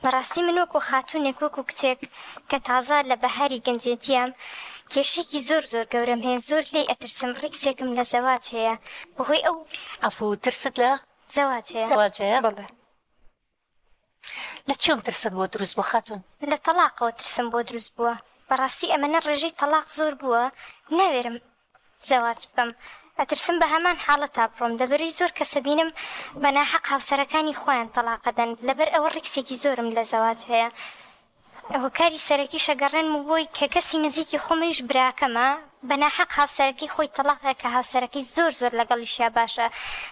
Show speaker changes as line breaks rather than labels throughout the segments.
بەڕاستی من وەکو خاتوونێک وەکو کچێک کە تازە لە بەهاری گەنجێتیام کێشەیەکی زۆر زۆر گەورەم هەیە زۆر لێی ئەترسم ڕیکسێکم لە زەواج هەیە بەهۆی ئەو عەفو ترست
لە زەواج هەیە. زەواج
هەیە؟ بەڵێ.
لە چیەوە ترست بۆت دروست بووە خاتوون؟ لە تەڵاقەوە
ترسم بۆ دروست بووە بەڕاستی ئەمەنە ڕێژەی تەڵاق زۆر بووە ناوێرم زەواج بکەم ئەترسم بەهەمان حاڵەتا بڕۆم لەبەرەی زۆر کەسەبینم بەناحەق هاوسەرەکانی خۆیان تەڵاقەدەن لەبەر ئەوە ڕیکسێکی زۆرم لەزەواج هەیە هۆکاری سەرەکیشە گەڕێنم و بۆی کەکەسی نزیکی خۆمەویش براکەمە بەناحەق هاوسەرەکەی خۆی تەڵاقدا کەهاوسەرەکەی زۆر زۆر لەگەڵیشیا باشە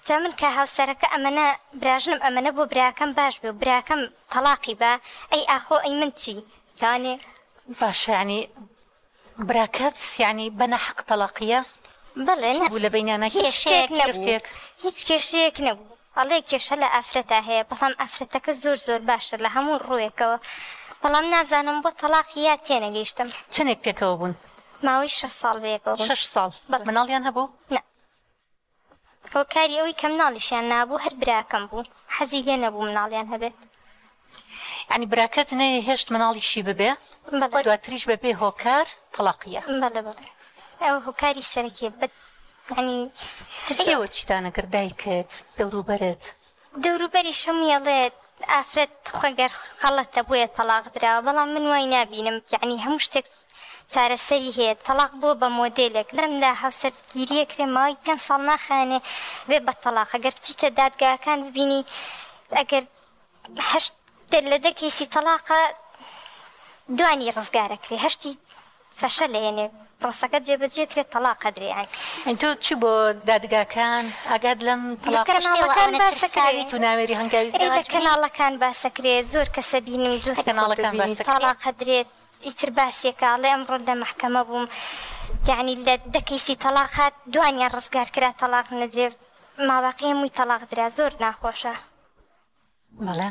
جا من کەهاوسەرەکە ئەمەنە براژنم ئەمەنە بۆ براکەم باش بێ و براکەم تەڵاقی با ئەی ئاخۆ ئەی من چی تانێ باشە
یانی براکەت یەعنی بە ناحەق تەڵاقیە؟ بەڵێ چی
بوو لە بەینانا
کێشەیەک گرفتێک؟
هیچ کێشەیەک نەبوو ئەڵێ کێشە لە ئافرەتا هەیە بەڵام ئافرەتەکە زۆر زۆر باشە لە هەموو ڕووێکەوە بەڵام نازانم بۆ تەڵاقی یا تێنەگەیشتم. چەنێک پێکەوە بوون؟
ماوەی شەش ساڵ
بەیەکەوە بوون. شەش ساڵ؟ بەڵێ.
مناڵیان هەبوو؟ نا.
هۆکاری ئەوەی کە مناڵیشیان نابوو هەر براکەم بوو حەزی لێ نەبوو مناڵیان هەبێت.
یانی براکەت نەیە هێشت مناڵیشی ببێ بەڵێ. دواتریش بە بێ هۆکار تەڵاقیە. بەڵێ بەڵێ
ئەوە هۆکاری سەرەکیە بەت یانی ترسە. ئێوە
چیتانە گەر دایکت دەوروبەرت دەوروبەریشم
یەڵێت ئافرەت خۆ گەر غەڵەتە بۆیە تەڵاق دراوە بەڵام من وای نابینم یەعنی هەموو شتێک چارەسەری هەیە تەڵاق بووە بە مۆدێلێک لەم لا هاوسەرگیریە کرێ ماوەی پێنج ساڵ ناخایەنێ بێ بە تەڵاق گەر بچیتە دادگاکان ببینی ئەگەر هەشت لە دە کەیسی تەڵاقە دوانی ڕزگار ئەکرێ هەشتی فشە لێنێ پرۆسەکە جێ بەجێ کرێ تەڵاق قەدری ئەک. تۆ چی بۆ
دادگاکان ئاگات لەم تەڵاق لە کەناڵەکان
باسە کرێ تو ناوێری هەنگاوی زواج
بی. لە کەناڵەکان
باسە کرێ زۆر کەسە بینم دوست خۆت دەبینی
تاڵا قەدرێت
ئیتر باسیەکە ئەڵێ ئەمڕۆ لە مەحکەمە بووم یەعنی لە دە کەیسی تەڵاق هات دوانیان ڕزگار کرا تەڵاق نەدرێ ماباقی هەمووی تەڵاق درا زۆر ناخۆشە.
بەڵێ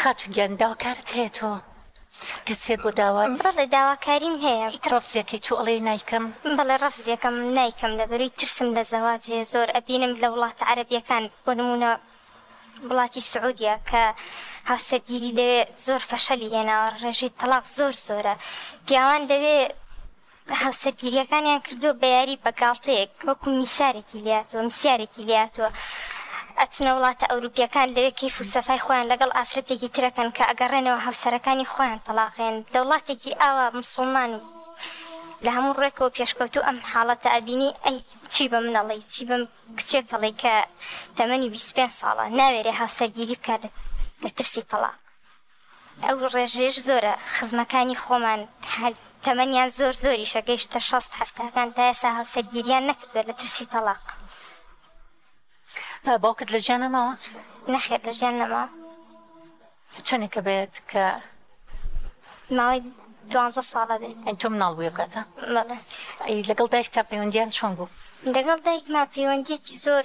خاتون گیان داواکارت هەیە تۆ کەسێک بۆ داوا. بەڵێ داواکاریم
هەیە. ئیتر ڕەفزیەکەی تۆ ئەڵێی
نایکەم. بەڵێ ڕەفزیەکەم
نایکەم لەبەروی ترسم لە زەواج هەیە زۆر ئەبینم لە وڵاتە عەرەبیەکان بۆ نمونە وڵاتی سعودیە کە هاوسەرگیری لەوێ زۆر فەشەلی هێناوە ڕێژەی تەڵاق زۆر زۆرە پیاوان لەوێ کە هاوسەرگیرییەکانیان کردووە بە یاری بە گاڵتەیەک وەکو میسارێکی لێهاتووە میسیارێکی لێهاتووە ئەچنە وڵاتە ئەوروپییەکان لەوێ کەیف و سەفای خۆیان لەگەڵ ئافرەتێکی ترەکەن کە ئەگەڕێنەوە هاوسەرەکانی خۆیان تەڵاقێن لە وڵاتێکی ئاوا موسوڵمان و لە هەموو ڕوێکەوە پێشکەوتوو ئەم حاڵەتە ئەبینی ئەی چی بە من ئەڵێی چی بەم کچێک ئەڵێی کە تەمەنی بیست و پێنج ساڵە ناوێرێ هاوسەرگیری بکات لە ترسی تەڵاق. ئەو ڕێژەیەش زۆرە، خزمەکانی خۆمان تەمەنیان زۆر زۆریشە گەیشتە شەست هەفتاکان تا ئێسا هاوسەرگیریان نەکردوە لە ترسی تەڵاق.
باوکت لە جیانە ماوە؟ نەخێر لە جیان
نەماوە.
چەنێکە بێت کە؟
ماوەی دوانزە ساڵە بێت. یانی تۆ مناڵ بووی ئەو کاتە؟
بەڵێ.
لەگەڵ دایکتا
پەیوەندیان چۆن بوو؟ لەگەڵ دایکما
پەیوەندیەکی زۆر.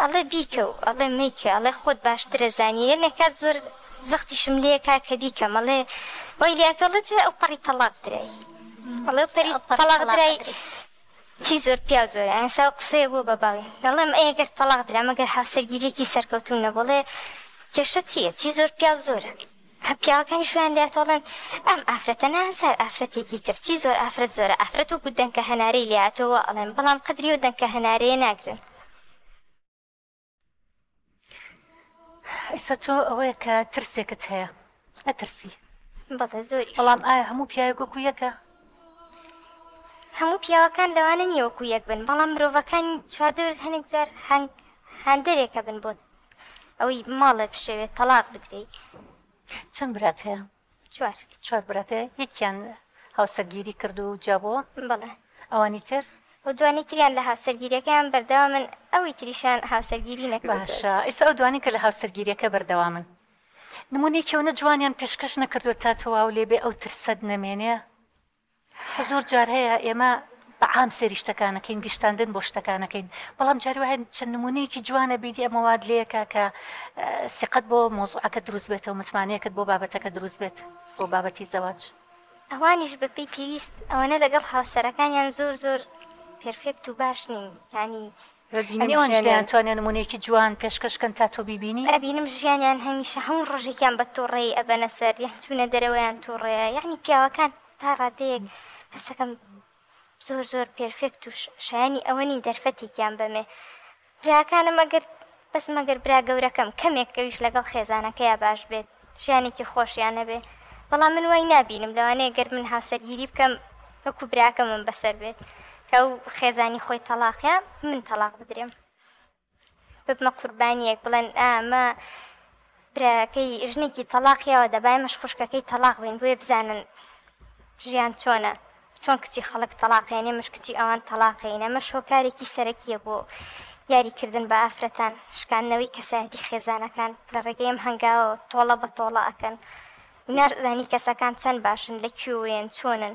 ئەڵێ بیکە و ئەڵێ مەیکە ئەڵێ خۆت باشترە زانی یەنێ کات زۆر زەختیشم لێ کا کە بیکەم ئەڵێ وای لێ ئەتۆ ئەڵێ جا ئەو پەڕی تەڵاق درای ئەڵێ ئەو پەری تەڵاق درای چی زۆر پیاو زۆرە ئەسا ئەو قسەیە بۆ بە باوی ئەڵێم ئەی گەر تەڵاق درا مەگەر هاوسەرگیریەکی سەرکەوتوو نەبوو ئەڵێ کێشە چیە چی زۆر پیاو زۆرە. پیاوەکانیش وایان لێ ئەتۆڵن ئەم ئافرەتە نازار ئافرەتێکی تر چی زۆر ئافرەت زۆرە ئافرەت وەکو دەنکە هەنارەی لێ هاتووە وا ئەڵێن بەڵام قەدری ئەو دەنکە هەنارەیە ناگرن. ئیسە
تۆ ئەوەیە کە ترسێکت هەیە ئەترسی بەڵێ
زۆری بەڵام ئایا هەموو پیاوێک
وەکو یەکە
هەموو پیاوەکان لەوانە نیە وەکو یەک بن بەڵام مرۆڤەکان چواردەورت هەنێک جار هەنگ هەندێکە بن بۆت ئەوی ماڵێ بشەوێ تەڵاق بدرێی. چەند
برات هەیە؟ چوار. چوار برات هەیە یەکیان هاوسەرگیری کرد و جیابووە؟ بەڵێ.
ئەوانی تر؟
ئەو دوانی تریان
لە هاوسەرگیریەکەیان بەردەوامن ئەوی تریشیان
هاوسەرگیری نەکردووە. باشە
ئیستا ئەو
دوانی کە لە هاوسەرگیریەکە بەردەوامن نمونەیەکی ئەونە جوانیان پێشکەش نەکردووە تا تەواو لێبێ ئەو ترسەت نەمێنێ؟ زۆر جار هەیە ئێمە بە عام سەیری شتەکان ئەکەین، گشتاندن بۆ شتەکان ئەکەین، بەڵام جاری وا هەیە چەند نموونەیەکی جوان ئەبینی ئەمە وات لێ ئەکا کە سیقەت بۆ مەوزوعەکەت دروست بێتەوە، متمانەیەکت بۆ بابەتەکە دروست بێت، بۆ بابەتی زەواج. ئەوانیش
بە پێی پێویست ئەوەنە لەگەڵ هاوسەرەکانیان زۆر زۆر پێرفێکت و باش نین، یانی هەنێ وانیش
دەیانتوانێ نموونەیەکی جوان پێشکەش کەن تا تۆ بیبینی. ئەبینم ژیانیان
هەمیشە هەموو ڕۆژێکیان بە توڕەیی ئەبەنە سەر یان چوونە دەرەوەیان توڕەیە یانی پیاوەکان تا ڕادەیەک هەستەکەم زۆر زۆر پێرفێکت و شایەنی ئەوە نین دەرفەتێکیان بەمێ براکانم ئەگەر بەس مەگەر برا گەورەکەم کەمێک ئەویش لەگەڵ خێزانەکەیا باش بێت. ژیانێکی خۆشیان هەبێ بەڵام من وای نابینم لەوانەیە گەر من هاوسەرگیری بکەم وەکو براکەمم بەسەر بێت کە ئەو خێزانی خۆی تەلاقە من تەلاق بدرێم ببمە قوربانیەک بڵێن ئامە براکەی ژنێکی تەلاقیەوە دەبای مەش خوشکەکەی تەلاق بین بۆیە بزانن ژیان چۆنە چۆن کچی خەڵک تەڵاقێنێ مش کچی ئەوان تەڵاقێین ئەمەش هۆکارێکی سەرەکیە بۆ یاری کردن بە ئافرەتان شکاندنەوەی کەسایەتی خێزانەکان لە ڕێگەی ئەم هەنگاوە تۆڵە بە تۆڵە ئەکەن و ناشزانی کەسەکان چەند باشن لە کوێوەیەن چۆنن